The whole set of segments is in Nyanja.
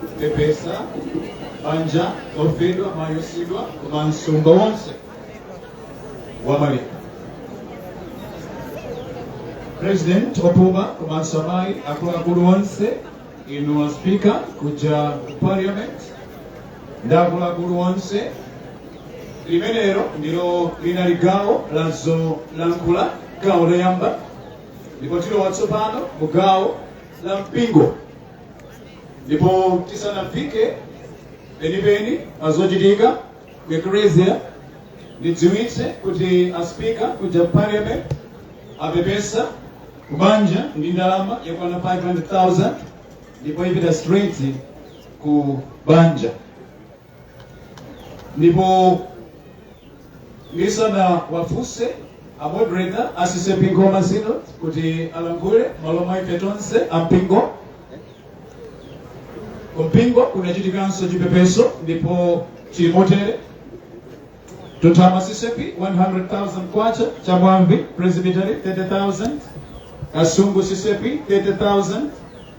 kupepesa banja lofedwa mayi osiyidwa komanso mtundu wonse wa malawi president opuma komanso amayi akuluakulu onse inu a speaker kuja ku parliament ndi akuluakulu onse limenelo ndilo linali gawo la zolankhula gawo loyamba ndipo tilowa tsopano mu gawo la mpingo ndipo tisanafike penipeni pazochitika ku ecclesia ndidziwitse kuti a speaker kuja parliament apepesa kubanja ndi ndalama yokwana 500000 ndipo ipita straight ku banja ndipo ndisanawafunse a moderator a ccap nkhoma synod kuti alankhule m'malo mwa ife tonse ampingo kumpingo kunachitikanso chipepeso ndipo chili motere mtunthama ccap 100,000 kwacha chamwabvi presbytery 30,000 kasungu ccap 30,000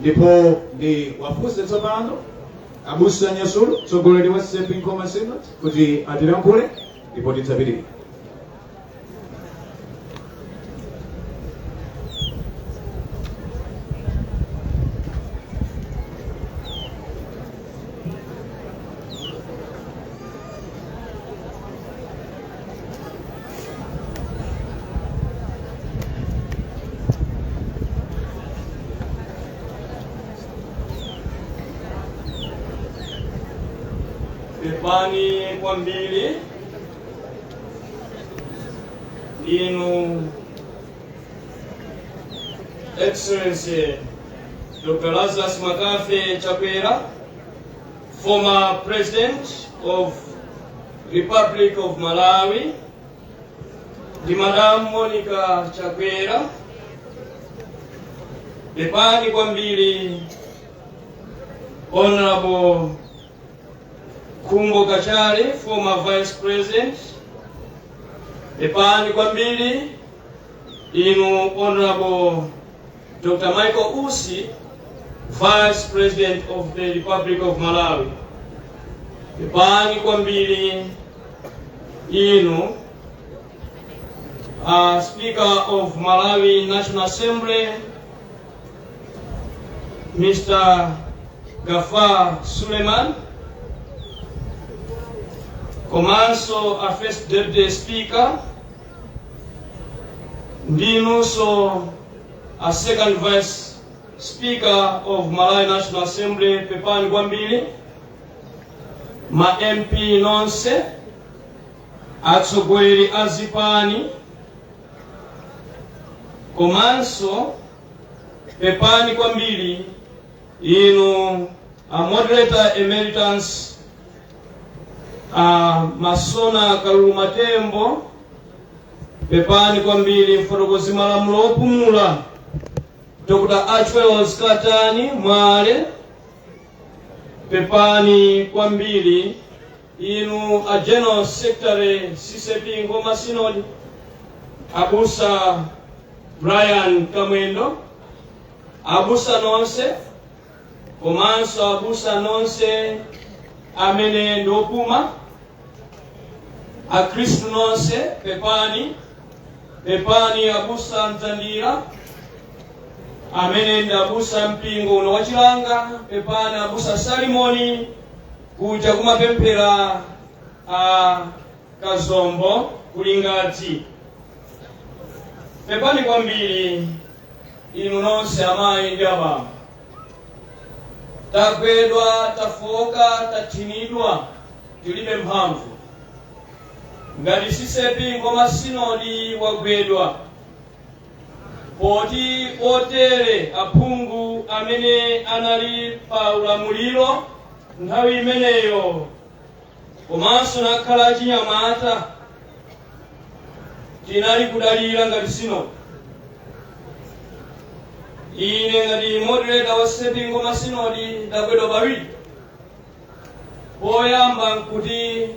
ndipo ndiwafunse tsopano abusa nyasulu mtsogoleri wa ccap nkhoma synod kuti atilankhule ndipo tidzapitirire pepani kwambiri inu excellency dr lazarus mccarthy chakwera former president of Republic of Malawi ndi Madam Monica Chakwera pepani kwambiri Honorable Khumbo Kachali former vice president pepani kwambiri inu Honorable Dr. Michael Usi, Vice President of the Republic of Malawi. Pepani kwambiri inu uh, Speaker of Malawi National Assembly Mr. Gafar Suleiman komanso a First Deputy Speaker ndinunso A second vice speaker of Malawi National Assembly pepani kwambiri ma MP nonse atsogoleri a zipani komanso pepani kwambiri inu a moderator emeritus a Masona Kaluluma Tembo pepani kwambiri mfotokozi malamulo opumula dr Archwells katani mwale pepani kwambiri inu a general secretary CCAP Nkhoma synod abusa brian kamwendo abusa nonse komanso abusa nonse amene ndiopuma akhristu nonse pepani pepani abusa mdzandira amene ndi abusa mpingo uno wa Chilanga pepani abusa salimoni kuja kumapemphera a kazombo ku Lingadzi pepani kwambiri inu nonse amayi ndi abambo tagwedwa tafowoka tathinidwa tilibe mphamvu ngati CCAP Nkhoma sinodi wagwedwa poti otere aphungu amene anali pa ulamuliro nthawi imeneyo komanso nakhala achinyamata tinali kudalira ngati sinodi ine ngati moderator wa CCAP Nkhoma sinodi ndagwedwa pawiri poyamba nkuti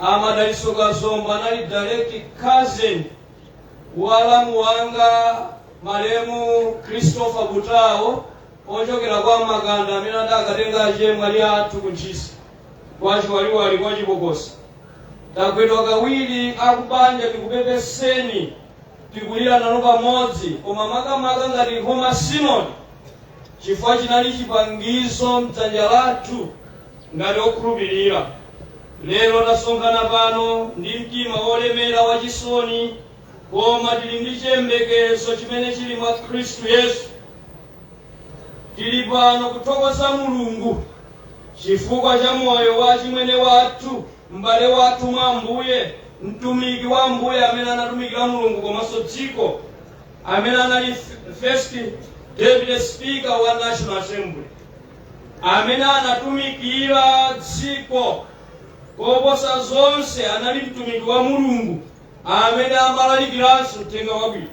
a Madalitso Kazombo anali direct cousin wa alamu wanga malemu christopher Butao ochokera kwa makanda amene adakatenga achemwali athu ku ntchisi kwa chiwaliwali kwa chibokosi tagwedwa kawiri akubanja tikupepeseni tikulira nanu pamodzi koma makamaka ngati nkhoma sinodi chifukwa chinali chipangizo m'dzanja lathu ngati okhulupirira lero tasonkhana pano ndi mtima wolemera wachisoni koma tili ndi chiyembekezo chimene chili mwa khristu yesu tili pano kuthokoza mulungu chifukwa cha moyo wa chimwene wathu m'bale wathu mwa ambuye mtumiki wa ambuye amene anatumikira mulungu komanso dziko amene anali f- first deputy speaker wa national assembly amene anatumikira dziko koposa zonse anali mtumiki wa mulungu amene amalalikiranso uthenga wabwino.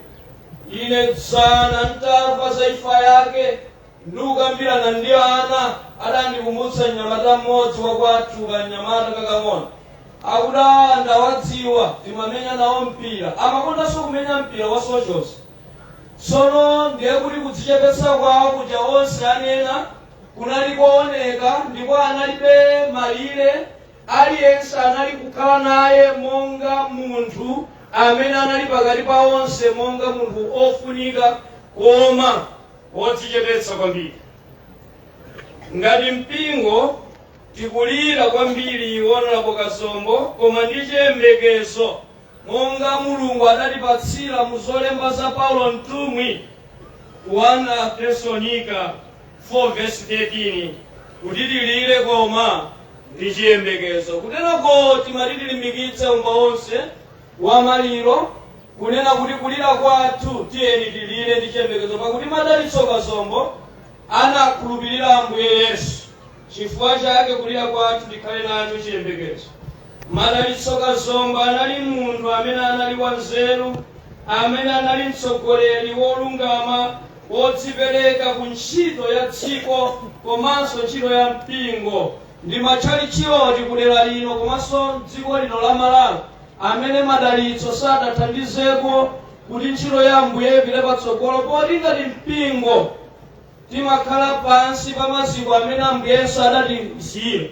Ine dzana ntamva za imfa yake ndikukambirana ndi ana, adandikumbutsa mnyamata mmodzi wakwathu kanyamata kakang'ono akuti "Ah, ndawadziwa timamenya nawo mpira amakondanso kumenya mpira wa socials tsono ndiye kuti kudzichepetsa kwawo kuja onse anena kunali kooneka ndipo analibe malire Aliyense anali kukhala naye monga munthu amene anali pakati pa onse monga munthu ofunika koma wodzichepetsa kwambiri. Ngati mpingo tikulira kwambiri Honorable Kazombo koma ndi chiyembekezo Monga Mulungu adatipatsira mu zolemba za Paulo Mtumwi 1 Atesalonika 4 vesi 13 kuti tilire koma ndi chiyembekezo. Kuteroko timati tilimbikitse khamu lonse wa maliro kunena kuti kulira kwathu tiyeni tilire ndi chiyembekezo pakuti Madalitso Kazombo anakhulupirira Ambuye Yesu. Chifukwa chake kulira kwathu tikhale nacho chiyembekezo. Madalitso Kazombo anali munthu amene anali wanzeru, amene anali mtsogoleri wolungama, wodzipereka ku ntchito ya dziko komanso ntchito ya mpingo ndi matchalitchi ati kudera lino komanso m'dziko lino la Malawi amene Madalitso sadathandizeko kuti ntchito ya Ambuye ipite patsogolo poti ngati mpingo timakhala pansi pa maziko amene Ambuye Yesu adatisiyira,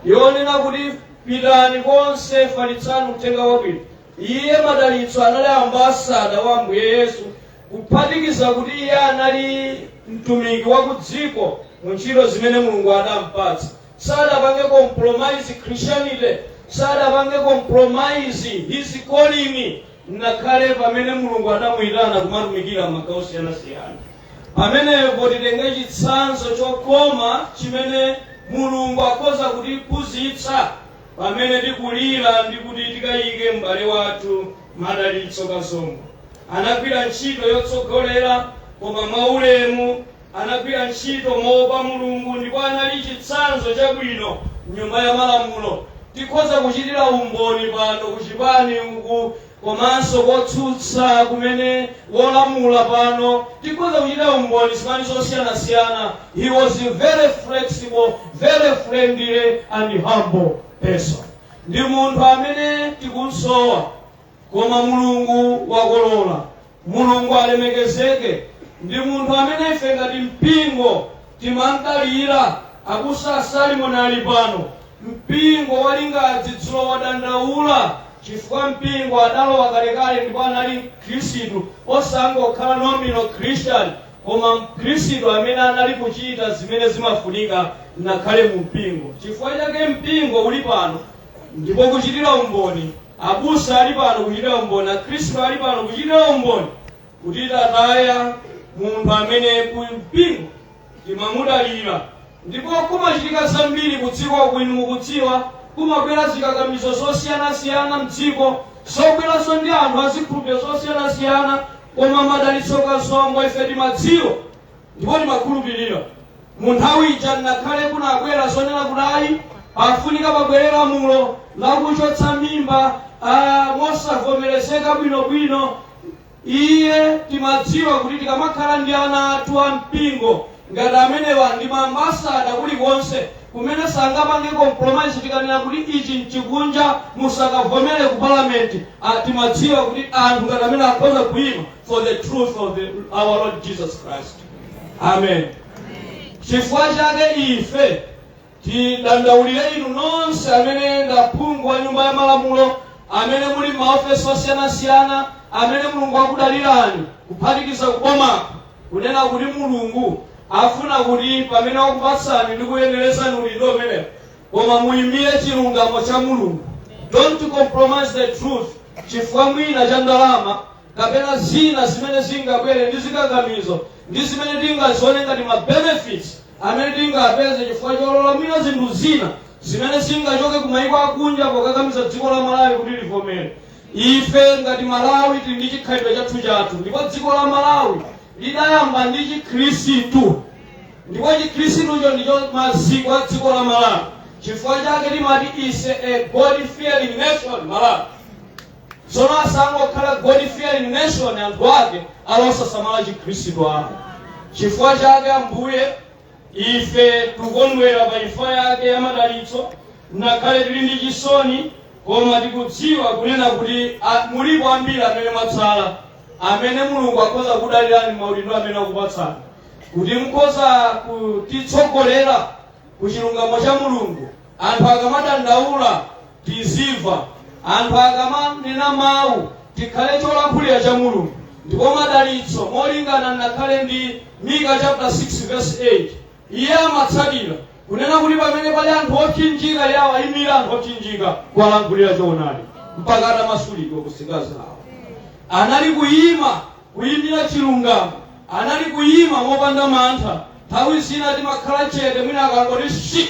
yonena kuti pitani konse falitsani uthenga wabwino. Iye Madalitso anali ambasada wa Ambuye Yesu, kuphatikiza kuti iye anali mtumiki wa ku dziko mu ntchito zimene Mulungu adampatsa. Sadapange compromise Christianity, sadapange compromise his calling. ngakhale pamene Mulungu adamuitana kumatumikira m'magawo osiyanasiyana. Pamenepo titenge chitsanzo chokoma chimene Mulungu akhoza kutiphunzitsa pamene tikulira ndi kuti tikayike m'bale wathu Madalitso Kazombo. Anagwira ntchito yotsogolera koma mwaulemu Anagwira ntchito moopa Mulungu ndipo anali chitsanzo chabwino mnyumba ya malamulo. Tikhoza kuchitira umboni pano ku chipani uku komanso kotsutsa kumene wolamula pano tikhoza kuchitira umboni zipani zosiyanasiyana he was very flexible, very friendly and humble person. Ndi munthu amene tikumsowa. Koma Mulungu wakolola. Mulungu alemekezeke! Ndi munthu amene ife ngati mpingo timamdalira. Abusa Salimoni ali pano. Mpingo wa Lingadzi dzulo wadandaula chifukwa mpingo adalowa kalekale ndipo anali Mkhristu, osangokhala nominal Christian, koma Mkhristu amene anali kuchita zimene zimafunika ngakhale mu mpingo. Chifukwa chake mpingo uli pano ndipo kuchitira umboni. Abusa ali pano kuchitira umboni, Akhristu ali pano kuchitira umboni kuti tataya munthu amene ku mpingo timamudalira ndipo kumachitika zambiri ku dziko kuno mukudziwa kumabwera zikakamizo zosiyanasiyana mdziko zobweranso ndi anthu azikhulupiriro zosiyanasiyana koma Madalitso Kazombo ife timadziwa Ndipo timakhulupirira mu nthawi ija nakhale kunabwera zonena kuti ayi pafunika pabwere lamulo lakuchotsa mimba ah, mosavomerezeka bwinobwino iye timadziwa kuti tikamakhala ndi ana athu a mpingo ngati amenewa ndi maambasada kulikonse kumene sangapange compromise tikanena kuti ichi nchikunja musakavomere ku palamenti ah, timadziwa kuti anthu ngati amene akhoza kuima for the truth of the, our Lord Jesus Christ. Amen. Chifukwa chake ife tidandaulire inu nonse amene ndaphungu wa nyumba ya malamulo amene muli maofesi osiyanasiyana amene mulungu akudalirani kuphatikiza kubomako kunena kuti mulungu afuna kuti pamene wakupatsani ndi kuyenerezani udindo umenewo koma muyimire chilungamo cha mulungu don't compromise the truth chifukwa mwina cha ndalama kapena zina zimene zingabwere ndi zikakamizo ndi zimene tingazione ngati ma benefits amene tingapeze chifukwa cholola mwina zinthu zina zimene zingachoke ku mayiko akunja pokakamiza dziko la malawi kuti livomere ife ngati malawi tili ndi chikhalidwe chathu chathu ndipo dziko la malawi lidayamba ndi chikhristu ndipo chikhristucho ndicho maziko a dziko la malawi chifukwa chake timati is a god fearing nation malawi Tsono asangokhala God fearing nation anthu ake ali osasamala chikhristu ayi. Chifukwa chake Ambuye ife tikukondwera pa imfa yake ya Madalitso nakhale tili ndi chisoni koma tikudziwa kunena kuti a- mulipo ambiri amene mwatsala amene mulungu akhoza kudalirani maudindo amene akupatsani kuti mukhoza kutitsogolera ku chilungamo cha mulungu Anthu akamadandaula tizimva. Anthu akamanena mawu tikhale cholankhulira cha Mulungu. Ndipo Madalitso molingana nakhale ndi Mika chapter 6 verse 8 iye amatsatira kunena kuti pamene pali anthu opsinjika iye awayimira anthu opsinjika kuwalankhulira choonadi mpaka atamasulidwa ku nsinga zawo anali kuyima kuyimira chilungamo anali kuyima mopanda mantha Nthawi zina timakhala chete mwina akangoti shi!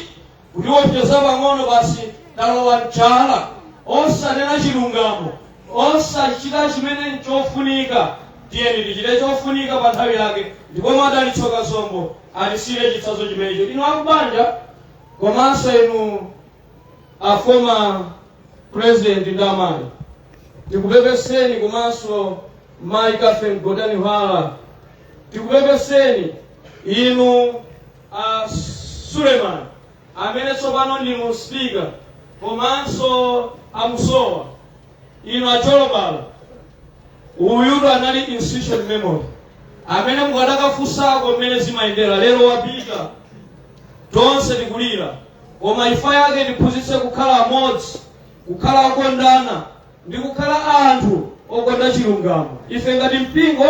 kutiwopseza pang'ono basi talowa m'chala. Osanena chilungamo, osachita chimene n'chofunika. Tiyeni tichite chofunika pa nthawi yake ndipo Madalitso Kazombo atisiyire chitsanzo chimenecho. Inu akubanja komanso inu. a former president ndi amayi tikupepeseni komanso mayi catherine gotani hara tikupepeseni inu a suleman amene tsopano ndinu spika komanso amusowa inu acholobala uyutu anali institutional memory amene mukadakafunsako mmene zimayendera lero wapita tonse tikulira Koma imfa yake itiphunzitse kukhala amodzi, kukhala okondana, ndi kukhala anthu okonda chilungamo. Ife ngati mpingo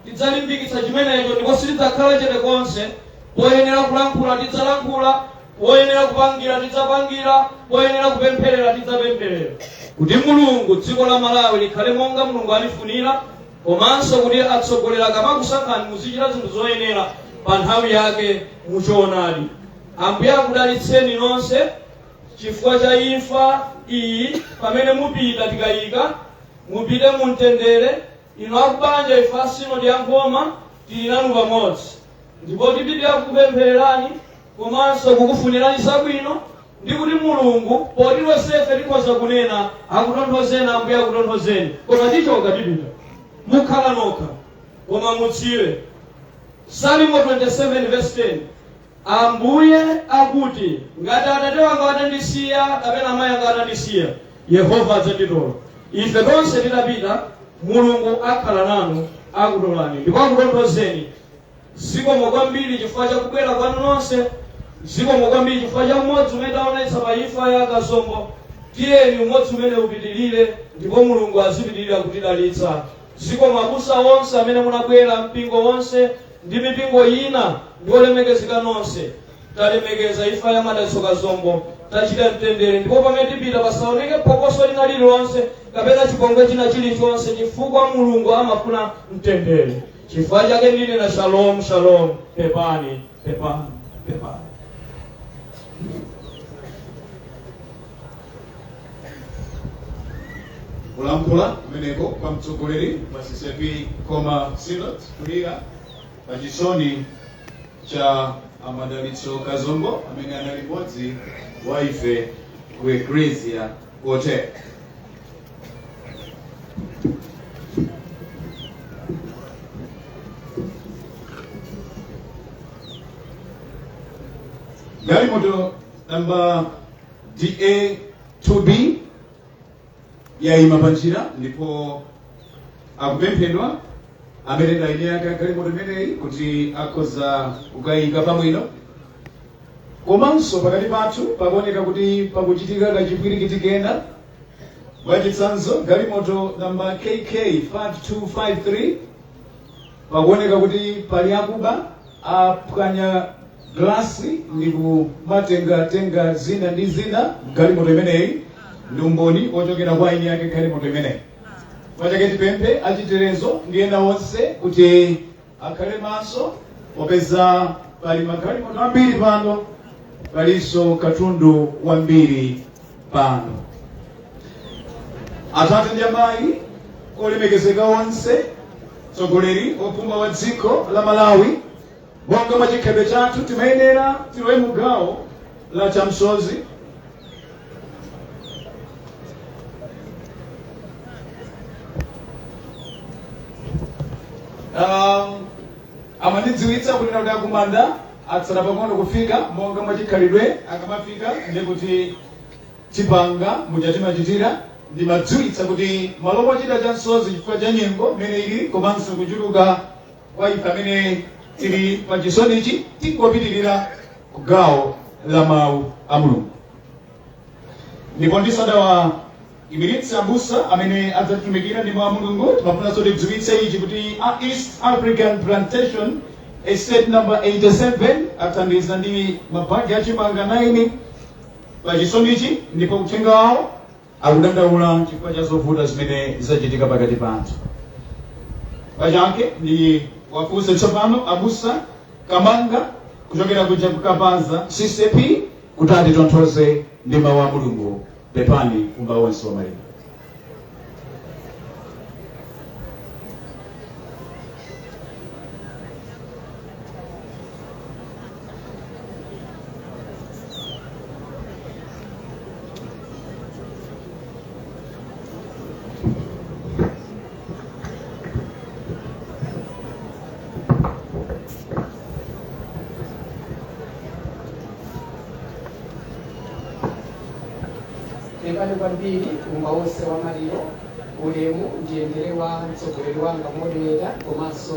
tidzalimbikitsa chimenecho ndipo sitidzakhala chete konse. Poyenera kulankhula tidzalankhula, poyenera kupangira tidzapangira, poyenera kupempherera tidzapempherera kuti Mulungu dziko la Malawi likhale monga Mulungu alifunira komanso kuti atsogoleri akamakusankhani muzichita zinthu zoyenera pa nthawi yake mu choonadi. Ambuye akudalitseni nonse chifukwa cha imfa iyi pamene mupita tikayika mupite mu mtendere inu akubanja ife a sinodi ya nkhoma tili nanu pamodzi ndipo tipitira kukupemphererani komanso kukufunirani zabwino ndi kuti mulungu poti tonsefe tikhoza kunena akutonthozeni ambuye akutonthozeni koma tichoka tipita mukhala nokha koma mudziwe salimo 27 verse 10 Ambuye akuti, Ngati atate wanga atandisiya kapena amayi anga atandisiya, Yehova adzanditola. Ife tonse titapita, Mulungu akhala nanu, akutolani ndipo akutonthozeni. Zikomo kwambiri chifukwa cha kubwera kwanu nonse. Zikomo kwambiri chifukwa cha umodzi umene taonetsa pa imfa ya Kazombo. Tiyeni umodzi umenewu upitirire ndipo Mulungu azipitirire kutidalitsa. Zikomo abusa onse amene munabwera, mpingo wonse. ndi mipingo ina ndi olemekezeka nonse talemekeza ifa ya madalitso kazombo tachita mtendere ndipo pamene tipita pasaoneke phokoso lina lililonse kapena chipongwe china chilichonse chifukwa mulungu amafuna mtendere chifukwa chake ndinena shalom shalom pepani pepani pepani kulankhula kumeneko kwa mtsogoleri wa ccap nkhoma synod kulira pa chisoni cha amadalitso kazombo amene anali mmodzi wa ife ku eklesia kotere galimoto namba DA2B yayima panjira ndipo akupemphedwa amene ndi eni ake a galimoto imeneyi kuti akhoza kukayika pamwino komanso pakati pathu pakuoneka kuti pakuchitika kachipwirikiti kena mwachitsanzo galimoto namba kk 5253 pakuoneka kuti pali akuba aphwanya glass ndi kumatenga tenga zina ndi zina mgalimoto imeneyi ndi umboni ochokera kwa eni ake galimoto imeneyi pachake tipemphe achitetezo ndi ena onse kuti akhale maso popeza pali magalimoto ambiri pano palinso katundu wambiri pano atate ndi amayi olemekezeka onse mtsogoleri opuma wa dziko la malawi Monga mwa chikhalidwe chathu, timayenera tilowe mu gawo la chamsozi. Um, anandidziwitsa kunena kuti akumanda atsala pang'ono kufika monga mwa chikhalidwe akamafika ndiye kuti tipanga muja timachitira andidziwitsa kuti malo mochita chamsozi chifukwa cha nyengo imene ili komanso kuchuluka kwa ife amene tili pa chisonichi tingopitirira ku gawo la mawu a mulungu ndipo ndisadawaimiritse abusa amene adzatitumikira ndi mawu a mulungu timafunanso tidziwitse ichi kuti a east african plantation estate number 87 athandiza ndi mabagi achimanga 9 pa chisonichi ndipo uthenga wawo akudandaula chifukwa cha zovuta zimene zachitika pakati pathu pachake ndiwafunse tsopano abusa kamanga kuchokera kuja kukapaza ccap kuti atitonthoze ndi mawu a mulungu pepani mbumba yonse ya maliro pepani kwambiri mbumba yonse ya maliro ulemu ndiyendere kwa mtsogoleri wanga moderator komanso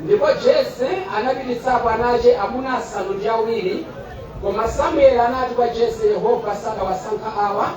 Ndipo Jese anapititsapo ana ace amuna asanu ndi awiri, koma Samueli anati kwa Jese, Yehova sadawasankha awa.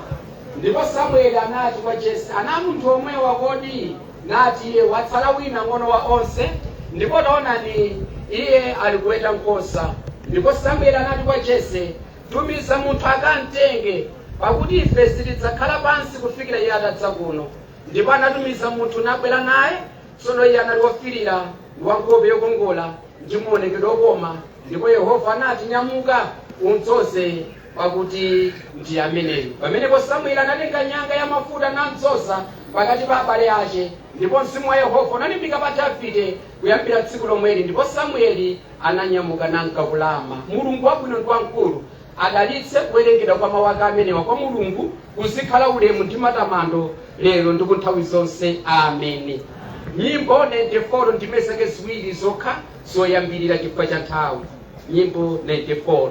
Ndipo Samueli anati kwa Jese, Ana a munthu omwewa kodi? Nati iye, Watsala wina ng'ono wa onse, ndipo taonani, iye ali kuweta nkhosa. Ndipo Samueli anati kwa Jese, Tumiza munthu akamtenge, pakuti ife sitidzakhala pansi kufikira iye atadza kuno. Ndipo anatumiza munthu nabwera naye, Tsono iye anali wofiirira ndi wa nkhope yokongola ndi muonekedwe wokoma, ndipo Yehova anati, Nyamuka, umdzoze, pakuti ndi ameneyu. Pamenepo Samueli anatenga nyanga ya mafuta namdzoza pakati pa abale ace, ndipo mzimu wa Yehova unalimbika pa Davide kuyambira tsiku lomweli, ndipo Samueli ananyamuka nanka ku Rama. Mulungu wabwino ndi wamkulu, Adalitse kuwerengedwa kwa mawu ake amenewa kwa Mulungu kuzikhala ulemu ndi matamando lero ndi kunthawi zonse. Ameni. Nyimbo 94 ndime zake ziwiri zokha zoyambirira chifukwa cha nthawi. Nyimbo 94.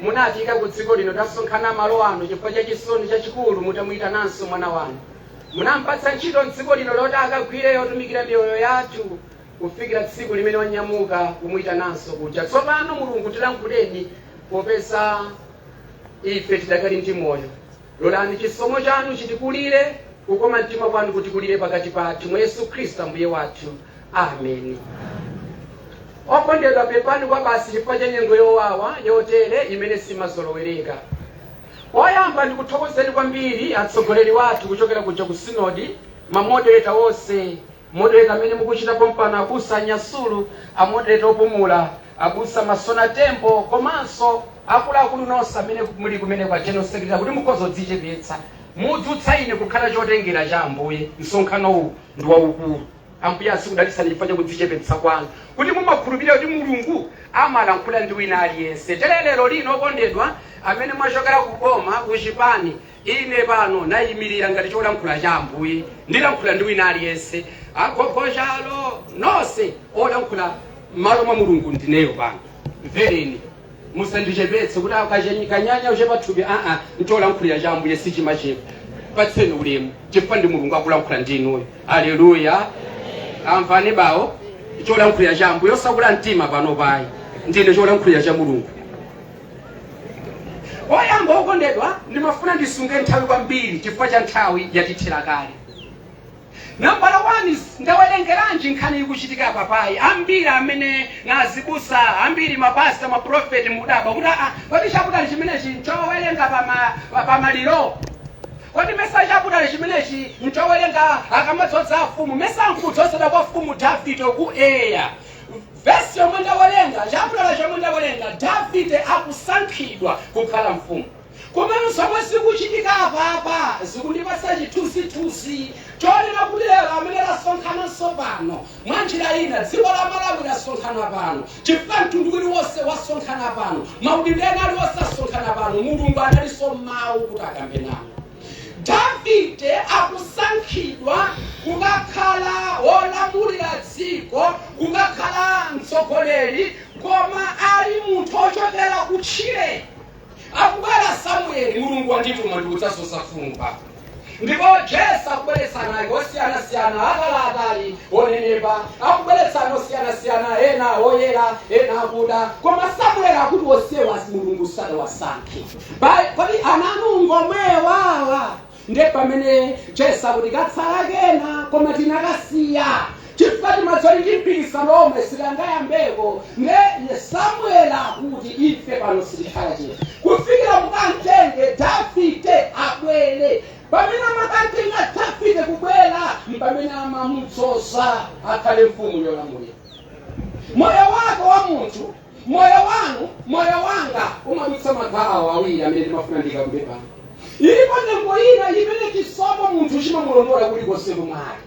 Munatiika ku dziko lino, tasonkhana malo ano chifukwa cha chisoni chachikulu mutamuyitananso mwana wanu. Munampatsa ntchito m'dziko lino loti akagwire yotumikira miyoyo yathu kufikira tsiku limene wanyamuka kumuyitananso kuja. Tsopano Mulungu tilankhuleni popeza ife tidakali ndi moyo. Lolani chisomo chanu chitikulire, kukoma mtima kwanu kutikulire pakati pathu, mwa Yesu Khristu Ambuye wathu. Ameni. Okondedwa, pepani kwa basi chifukwa cha nyengo yowawa yotere imene simazolowereka. Oyamba ndikuthokozeni kwambiri atsogoleri wathu kuchokera kuja ku sinodi, mamodereta onse Moderator amene mukuchita pompano, abusa Nyasulu, a moderator opumula, abusa Masona Tembo komanso akuluakulu nonse amene muli kumeneko a General Secretary kuti mukhoza kudzichepetsa mudzutsa ine kukhala chotengera cha Ambuye. Msonkhano uwu ndi waukulu. Ambuye azikudalitsani chifukwa cha kudzichepetsa kwanu kuti mumakhulupirira kuti Mulungu amalankhula ndi wina aliyense. Tere lero lino okondedwa amene mwachokera ku boma ku chipani Ine pano naimirira ngati cholankhula cha Ambuye, ndilankhula ndi wina aliyense, agogo chalo, nonse olankhula m'malo mwa Mulungu ndineyo pano. Mvereni, musandichepetse kuti akachany- kanyanya uchepa thupi aa, ncholankhulira cha Ambuye sichimachepa. Patseni ulemu chifukwa ndi Mulungu akulankhula ndi inuyo. Aleluya, amvani bawo cholankhulira cha Ambuye osakula mtima pano payi, ndine cholankhulira cha Mulungu. oyamba okondedwa ndimafuna ndisunge nthawi kwambiri chifukwa cha nthawi yatithera kale nambala 1 ndawerengeranji nkhani ikuchitika apapayi ambiri amene nazibusa ambiri mapasta maprofeti mudabwa kuti aa kodi chaputali chimenechi nchowerenga pama- pa- pamaliro kodi mesa chaputali chimenechi nchowerenga akamadzoza afumu mesa nkudzozedwa kwa mfumu davide ku eya Vesi yomwe ndawerenga, chaputala chomwe ndawerenga, Davide akusankhidwa kukhala mfumu. Komano zomwe zikuchitika apapa zikundipatsa chithunzithunzi chonena kuti lero amene lasonkhananso pano mwa njira ina dziko la Malawi lasonkhana pano chifukwa mtundu uliwonse wasonkhana pano maudindo ena aliwonse asonkhana pano mulungu analinso mawu kuti akambe nawo Davide akusankhidwa kukakhala wolamulira dziko, kukakhala mtsogoleri, koma ali munthu ochokera kutchire. Akubwera Samueli, Mulungu wandituma ndikudzadzoza mfumu pano. Ndipo Jese akubweretsa ana ake osiyanasiyana, ataliatali, onenepa, akubweretsa ana osiyanasiyana, ena oyera, ena akuda, koma Samueli akuti onsewa Mulungu sadawasankhe. Pa- kodi ana anu ngomwewawa nde pamene jese akuti katsala kena koma tinakasiya chifukwa timatsoli ndi mpikisano omwe sikangayambeko nde samueli akuti ife pano sitikhala chete kufikira mukantenge davide abwere pamene amakantenga davide kubwera mpamene amamudzoza akhale mfumu yolamulira moyo wako wa munthu moyo wanu moyo wanga umadutsa magawo awiri amene ndimafuna ndikambe pano ilipo nyengo ina imene chisomo munthu chimamulondola kulikonse komwe ali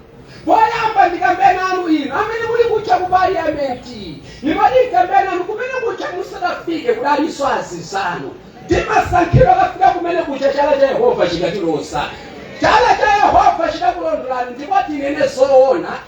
poyamba ndikambe nanu inu amene muli kuja ku parliamenti ndimati ndikambe nanu kumene kuja musadafike kudalinso azinzanu timasankhidwa kukafika kumene kuja chala cha yehova chikatiloza chala cha yehova chidakulondolani ndipo tinene zoona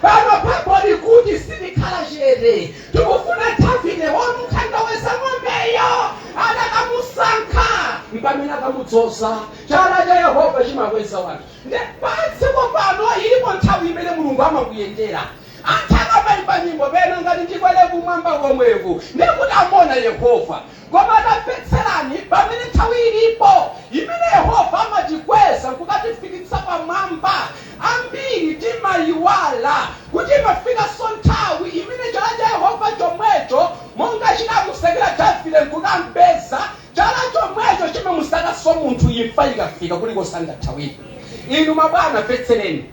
Pano pambo likuti sitikhala chete tikufuna Davide wamukhandaweza ng'ombeyo anakamusankha mpamene akamudzoza chala cha yehova chimakweza wanthu nde padziko pano ilipo nthawi imene mulungu amakuyendera anthu akamaimba nyimbo pena ngati ndikwere kumwamba komweku ndekuti amuona yehova Koma tamvetserani, pamene nthawi ilipo imene Yehova amatikweza n'kukatifikitsa pamwamba, ambiri timaiwala kuti imafikanso nthawi imene chala cha Yehova chomwecho, monga chinamusakira Davide n'kukam'peza, chala chomwecho chimamusakanso munthu imfa ikafika, kulikonse angathawire. Inu mabwana, mvetsereni.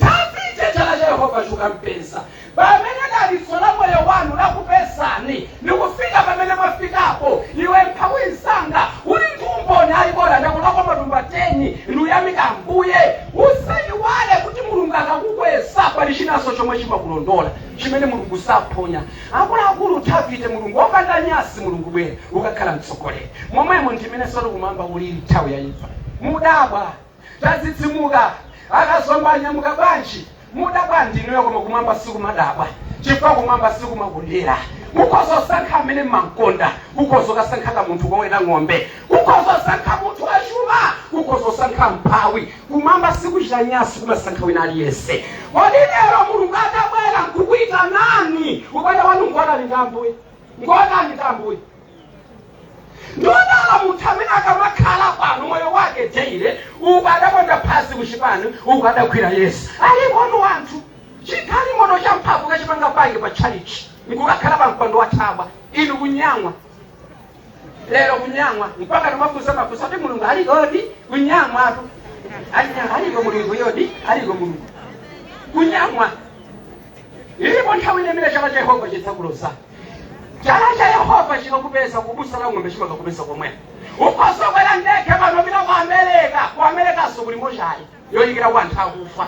Davide chala cha Yehova chikampeza pamene dalitso la moyo wanu lakupezani ndikufika pamene mwafikapo iwe mphawi mnzanga uli ndi umboni ayi bola ndakolola matumba 10 ndiyamika ambuye usayiwale kuti mulungu akakukweza pali chinanso chomwe chimakulondola chimene mulungu saphonya akuluakulu davide mulungu opanda nyansi mulungu bwera ukakhale mtsogoleri momwemo ndimene soli kumwamba ulili nthawi yaimfa mudabwa tadzidzimuka akazi anga anyamuka bwanji mudabwa ndinuyo koma kumwamba sikumadabwa chifukwa kumwamba sikumakondera kukhoza kusankha amene mmamkonda kukhoza kukasankha kamunthu koweta ng'ombe kukhoza kusankha munthu wachuma kukhoza kusankha mphawi kumwamba sikuchita nyansi kumasankha wina aliyense kodi lero mulungu atabwera nkukuitanani ubale wanu ngotani ndi ambuye ngotani ndi ambuye ndodala munthu amene akamakhala pano moyo wake teire uku adaponda pansi kuchipani uku adagwira yesu alipotu wanthu chigalimoto cha mphamvu kukachipaka panja pa tchalitchi nkukakhala pa mpando wa thabwa inu kunyang'wa lero kunyang'wa mpaka timafunsa mafunso kuti mulungu alikodi kunyang'watu alinyang'wa aliko mulunguyodi aliko mulungu kunyang'wa ilipo nthawi ina imene chala cha yehova chidzakuloza chala cha yehova chikakupeza kubusa la ng'ombe chimakakupeza komweko ukhoza kukwera ndege pano kupita ku amerika ku amerikanso kuli mochali yoyikirako anthu akufa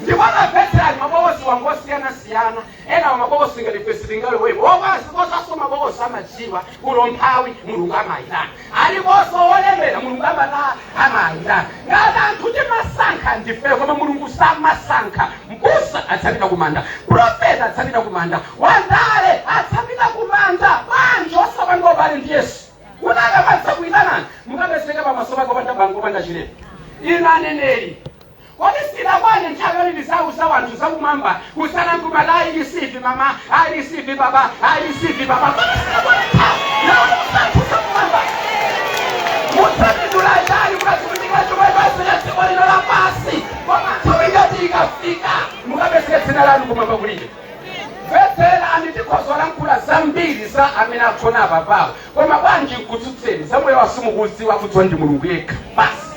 ndipo mabetani mabokosi wangu osiyanasiyana ena wa mabokosi ngati fesitingaliwepo okwasi kosaso mabokosi amadziwa olo mphawi mulungu amayitana aliponso wolemera mulungu amata amayitana ngati anthu timasankha ndifeyo koma mulungu samasankha mbusa adzapita kumanda profeta adzapita kumanda wandale adzapita kumanda bwanji osapanga ubale ndi yesu kuti akamadzakuyitanani mukapezeke pamaso pake opanda banga opanda chilema inu aneneri Kodi siinakwane nthawi yoti tiziwauza wanthu zakumwamba kusiyana nkumati I receive mama I receive papa I receive papa kodi siinakwane nthawi youza anthu zakumwamba mudzapindula chani kukatumikira chuma basi cha dziko lino la pansi koma nthawi ngati ikafika mukapezeka dzina lanu kumwamba kulibe mvetserani tikhoza kulankhula zambiri za amene agona apapawo koma bwanji nkutsutseni zamoyo wawo simukuziwa kudziwa ndi mulungu yekha basi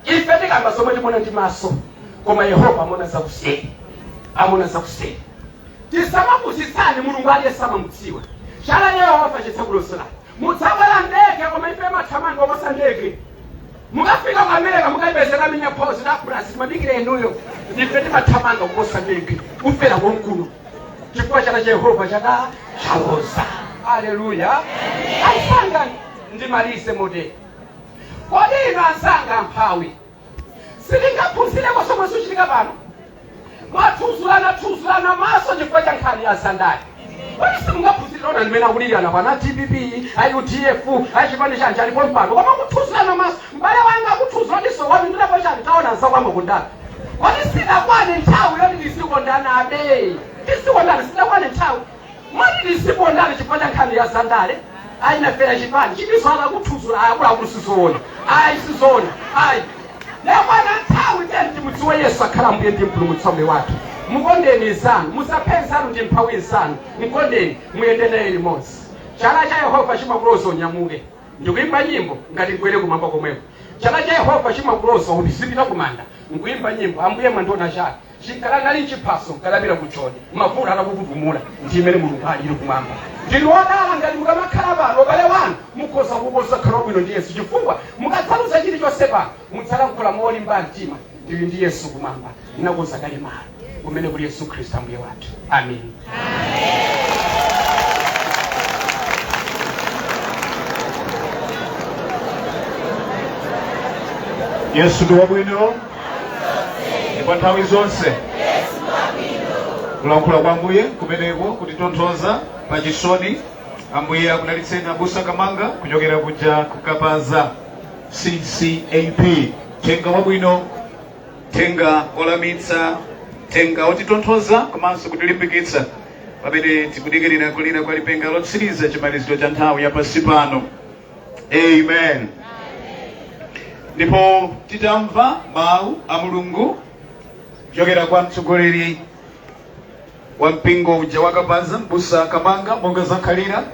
Ife tikamba zomwe tikuona ndi maso, koma Yehova amaona zakuseri, amaona zakuseri. Tisamapusitsane, Mulungu aliyense amamudziwa. Chala cha Yehova chidzakulondolani. Mudzakwera ndege, koma imfa imathamanga koposa ndege. Mukafika ku America mukapezeka minya phozi la Brazil imadikira inuyo. Imfa imathamanga kuposa ndege, kufera konkuno. Chifukwa chala cha Yehova chaka chaloza. Haleluya. Anzanga ndimalize motere. Kodi inu anzanga amphawi sitingaphunzireko zomwe zikuchitika pano? Mwathuzulana thuzulana maso chifukwa cha nkhani ya zandale. Kodi simungaphunzire onani mmene akulirana pano a DPP, a UDF, a chipani chanji alipo pompano. Koma kuthuzulana maso, m'bale wanga akuthuzula diso wanu ndinapo chani taona nzakwama kundani. Kodi sidakwane nthawi yoti tizikondana abale. Tizikondana sidakwane nthawi. yoti tizidana chifukwa cha nkhani ya zandale ayi nafera chipani chitinso akakuthuzula akuluakulu sizoona ayi sizoona ayi yakwana nthawi tiyeni timudziwe yesu akhala mbuye ndi mpulumutsi wa moyo wathu mukondeni nzanu musaphe nzanu ndi mphawi nzanu mkondeni muyende naye limodzi chala cha yehova chimakuloza unyamuke ndikuimba nyimbo ngati mkwere kumwamba komweko chala cha yehova chimakuloza uzipita kumanda nkuimba nyimbo ambuye mwandiona chake Chikadakali chiphaso mkadapita ku Joni mavuto atakukutumula ndi mmene Mulungu alili kumwamba. Ndinu odala ngati mukamakhala pano ubale wanu mukhoza kukonza kukhala wabwino ndi Yesu chifukwa mukadzaluza chilichonse pano mudzalankhula molimba mtima ndili ndi Yesu kumwamba ndinakonza kale malo kumene kuli Yesu Khristu Ambuye wathu. Amen. yesu ndi wabwino ndipo nthawi zonse kulankhula kwa ambuye kumeneko kutitonthoza pa chisoni ambuye akudalitseni abusa kamanga kuchokera kuja kukapaza ccap thenga wabwino thenga olamitsa thenga otitonthoza komanso kutilimbikitsa pamene tikudikirira kulira kwa lipenga lotsiriza chimaliziro cha nthawi ya pansi pano amen ndipo titamva mawu a mulungu kuchokera kwa mtsogoleri wa mpingo uja wakapaza mbusa kamanga monga zakhalira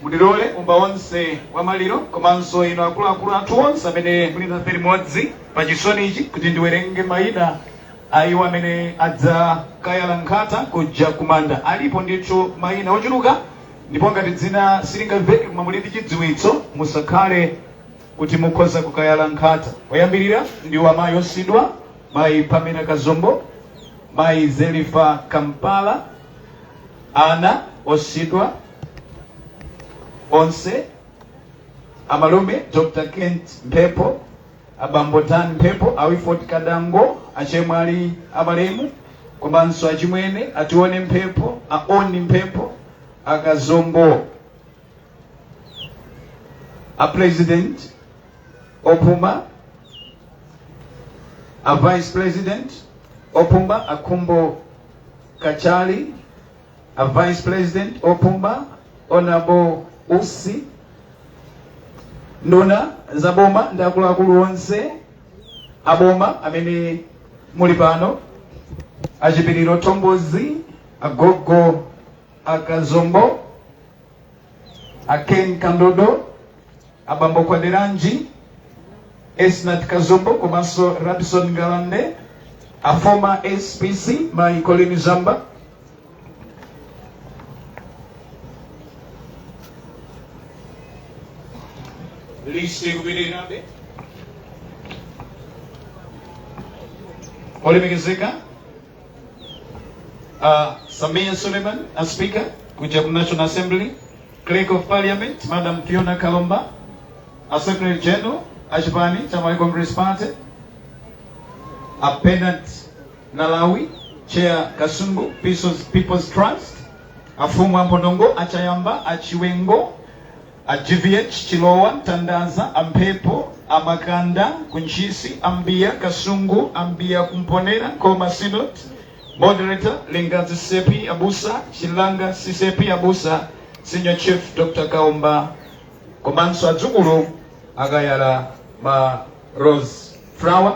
Mundilole ambumba onse wa maliro komanso inu akuluakulu athu onse amene muli nafe limodzi pa chisonichi kuti ndiwerenge mayina a iwo amene adzakayala nkhata kuja kumanda. Alipo ndithu mayina ochuluka ndipo ngati dzina silingamveke koma muli ndi chidziwitso musakhale kuti mukhoza kukayala nkhata. Oyambirira ndiwo mayi osiyidwa mayi Pamela Kazombo, mayi Zelifa Kampala, ana osiyidwa onse amalume dr kent mphepo abambo dan mphepo a wilford kadango achemwali amalemu komanso achimwene atione mphepo aoni mphepo akazombo a president opuma a vice president opuma akhumbo kachali A Vice President opuma, Honourable Usi, nduna za boma ndi akuluakulu onse a boma amene muli pano, a Chipiliro Thombozi, agogo a Kazombo, a Ken Kandodo, abambo Kwaderanji Esnat Kazombo komanso Rabson Ngalande a former SPC mayi Colleen Zamba list ikupitirirabe olemekezeka uh, Sameer Suleman a speaker kuja ku National Assembly Clerk of Parliament, Madam Fiona Kalomba, a Secretary General, Ashbani, Tamari Congress Party, a Pendant Nalawi, Chair Kasungu, People's, People's Trust, a Fumwa Mbonongo, a Chayamba, a Chiwengo, a GVH, Chilowa, Tandaza, a Mpepo, a Makanda, Kunchisi, Ambia, Kasungu, Ambia Kumponera, Koma Sinot, Moderator, Lingadzi CCAP Abusa, Chilanga CCAP Abusa, Senior Chief Dr. Kaomba, komanso adzukulu akayala ma Rose Flower,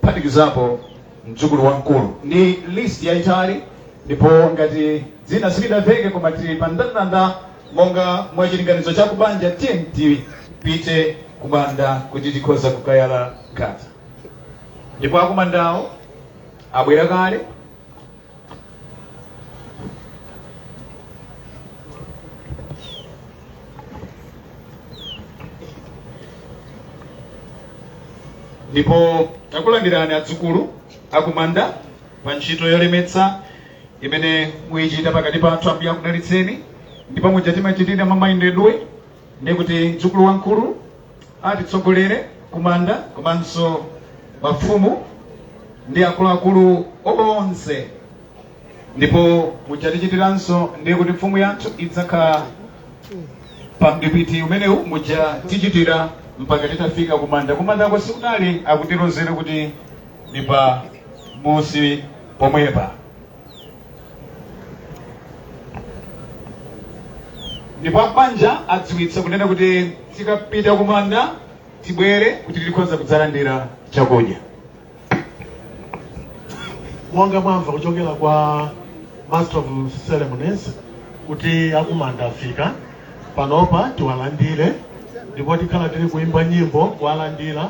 kuphatikizapo mdzukulu wamkulu. Ndi list yaitali ndipo ngati dzina silidaveke koma lili pa ndandanda monga mwa chilinganizo cha kubanja tiyeni tipite kumanda kuti tikhoza kukayala nkhata. ndipo akumandawo abwera kale ndipo takulandirani adzukulu akumanda pa ntchito yolemetsa imene muyichita pakati pathu Ambuye akudalitseni ndipo muja timachitira mmayendedwe ndiye kuti mdzukulu wamkulu atitsogolere kumanda komanso mafumu ndi akuluakulu onse ndipo muja tichitiranso ndiye kuti mfumu yathu idzakhala pa mdipiti umenewu muja tichitira mpaka titafika kumanda kumandako si kutali akutilozera kuti ndi pamunsi pomwepa ndipo abanja adziwitsa kunena kuti tikapita kumanda tibwere kuti tikhoza kudzalandira chakudya monga mwamva kuchokera kwa master of ceremonies kuti akumanda afika panopa tiwalandire ndipo tikhala tili kuimba nyimbo kuwalandira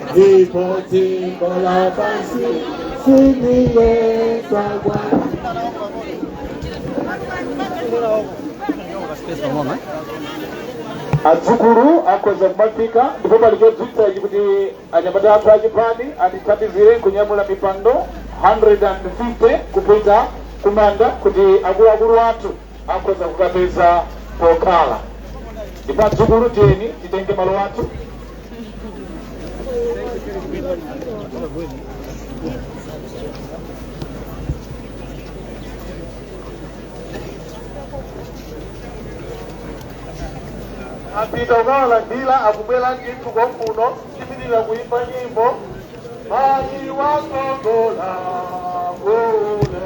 ndipo dziko lapansi sindiyesa kwathu adzukulu akhoza kumafika ndipo pali chidziwitso ichi kuti anyamata athu achipani atithandizire kunyamula mipando 150 kupita kumanda kuti akuluakulu athu akhoza kukapeza pokhala ndipo adzukulu tiyeni titenge malo athu apita ukawalandira akubwera ndithu konkuno tipitirira kuimba nyimbo mayi wakongola ngole